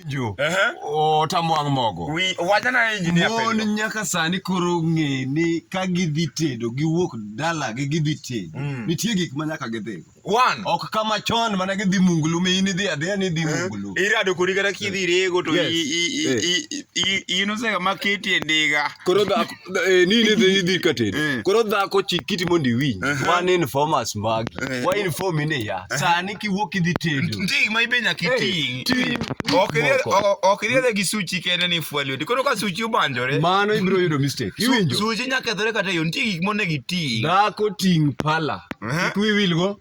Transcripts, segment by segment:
jo otamwang' mogo wachana engineer mon nyaka sani koro ng'e ni ka gidhi tedo giwuok dala gi gidhi tedo mm. nitie gik ma nyaka gidhi one ok kama chon mana gidhi mungulu mi in idhi adhiya ni idhi eh, mungulu irado kori kata kidhi rego to inosega ma keti e ndiga koro Eh, ni ne dhi dhi ka tedo Eh. koro dhako chik kiti mondo iwinj Aha. man informers magi Eh. wa inform ni ya sani kiwuok idhi tedo Ndig ma ibe nyaka Hey, iting'. ting' Ok iried- moko. o- ok iriedhe gi suchi kende ni fwa lweti. Koro ka suchi obanjore, mano ibiro yudo mistake su- iwinjo suchi nyaka kethore kata e yo. Nitie gik monego iting'. dhako ting' pala Aha. kik wiwilgo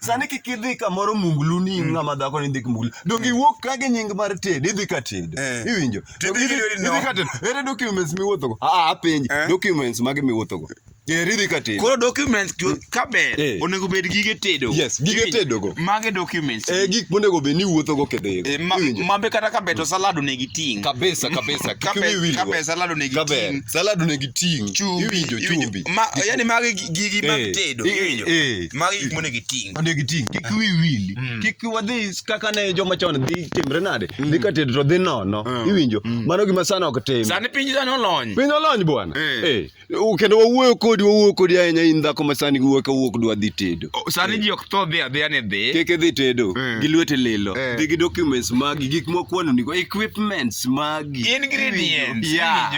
Sani kik idhi kamoro munglu ni mm. ng'ama dhako ni ndik munglu. Donge mm. iwuok ka gi nying mar tedo, idhi ka tedo. Eh. Iwinjo? Idhi ka tedo. Ere documents miwuothogo? Ah, ah apenji. Eh. Documents mage miwuothogo? Geriri ka tedo. Koro documents ka ber eh. onego bed gige tedo. Yes, gige tedo go. Mage documents. Eh gik monego bed ni wuotho go kedhe. Eh, Mambe kata ka beto salad onego iting. Kabisa kabisa. Kiwi wili. Kabe salad onego iting. Salad onego iting. Iwinjo chumbi. Ma yani mage gigi mag eh, tedo. Iwinjo. magi gik monego iting onego iting kik ah. wi wili mm. kik wadhi kaka ne joma chon dhi timre nade mm. dhi ka tedo to dhi nono ah. iwinjo mm. mano gima sana ok tim sani piny sani olony piny olony bwana eh. Eh. kendo wawuoyo kodi wawuoyo kodi ahinya in dhako ma sani giwuoyo ka wuok dwa dhi tedo oh, sani eh. ji ok tho dhi adhiya ni dhi kik idhi tedo gi lwete lilo dhi gi documents magi gik mokwano nigo equipments magi ingredients yeah.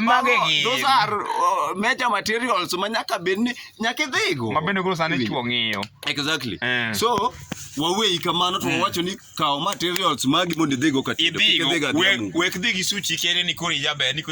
magi gi those are uh, major materials ma nyaka bed ni nyaka idhigo ma bende koro sani Iwinjo. chuo ng'iyo exactly Eh. so waweyi kamano to wawacho ni kaw materials magi mondo idhigo ka tedo. Kik idhigo idhiga we- adhiambu. wek dhi gi suchi kere ni koro ijaber ni koro